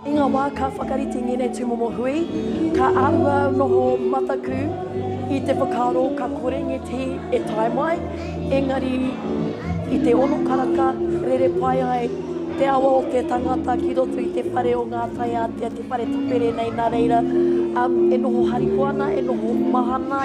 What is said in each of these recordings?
I ngā wā ka whakarite ngēnei tūmomo hui, ka auau noho mataku i te whakaaro ka kore ngeti e tae mai, engari i te ono karaka rere pai ai te awa o te tangata ki roto i te whare o ngā taiātea, te whare tapere nei nā reira e noho harikoa ana, e noho mahana.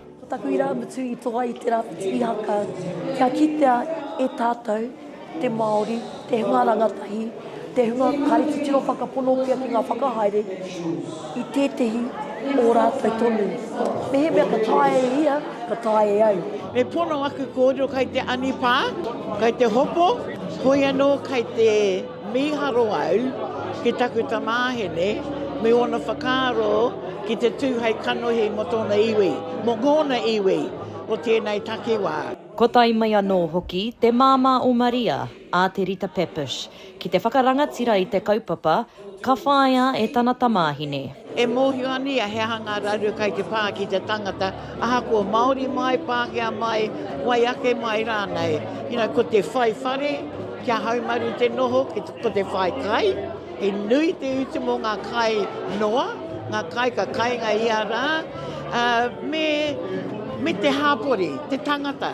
Ko taku irāmutu i toa i te Rāwhiti Ihaka kia kitea e tātou te Māori, te hunga rangatahi, te hunga kare titiro whakaponotia ki ngā whakahaere i tētehi o rātou tonu. Mehemea ka taea e ia, ka taea e au. Me pono aku kōrero kai te anipā, kai te hopo, hoi anō kai te. Mīharo au ki taku tamāhine me ōna whakaaro ki te tū hei kanohi mō tōna iwi, mō ngōna iwi o tēnei takiwā. Kua tae mai anō hoki te māmā o Maria, a Te Rita Pepish, ki te whakarangatira i te kaupapa, ka whāia e tana tamāhine. E mōhio ana ia he aha ngā raru kai te pā ki te tangata, ahakoa Māori mai, Pākehā mai, wai ake mai rānei. You know, ko te whai whare, kia haumaru te noho, ko te whai kai, he nui te utu mō ngā kai noa, ngā kai ka kainga ia rā, ā, me, me te hāpori, te tangata.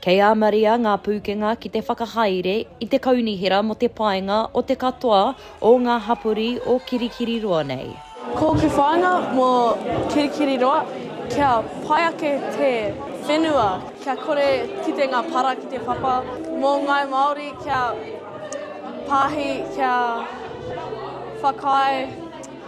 Kei a Maria ngā pūkenga ki te whakahaere i te kaunihera mō te paenga o te katoa o ngā hapori o Kirikiriroa nei. Ko ke whāinga mō Kirikiriroa kia pai ake te whenua, kia kore kite ngā para ki te papa, mō ngāi Māori kia pāhi, kia whakaae,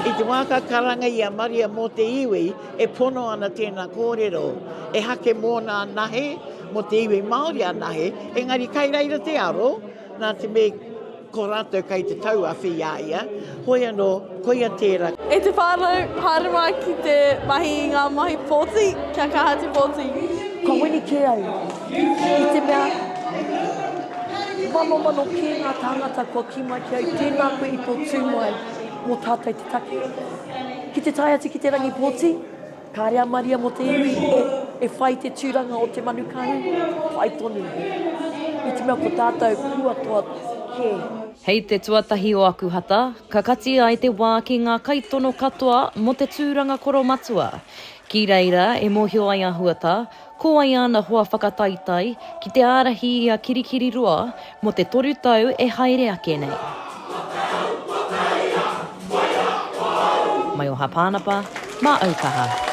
I te wā ka karanga i a Maria mō te iwi e pono ana tēnā kōrero, e hake mōna anahe, mō te iwi Māori anahe, engari kai reira te aro, nā te mea ko rātou kai te tauawhi i a ia, hoi anō, Koia tērā. E te whānau, haere mā ki te mahi i ngā mahi pōti, kia kaha te pōti. Kua wini kē ai, i te mea, manomano kē ngā tāngata kua kī mai ki au, tēnā koe i tō tū mai mō tātou te take. Ki te tae atu ki te rangi pōti, Kāre a Maria mō te iwi e whai te tūranga o te manu kahu, whai tonu. I te mea ko tātou kua toa kē. Hei te tuatahi o aku hata, ka kati ai te wā ki ngā kaitono katoa mō te tūranga koromatua. Ki reira e mōhio ai a Huata, Ko wai āna hoa whakataitai ki te ārahi i a Kirikiriroa mō te toru tau e haere ake nei? Maioha Pānapa, mā Aukaha.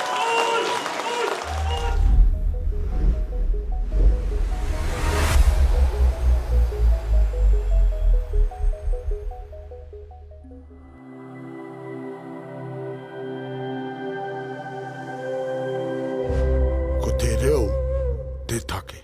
Ko te reo te take.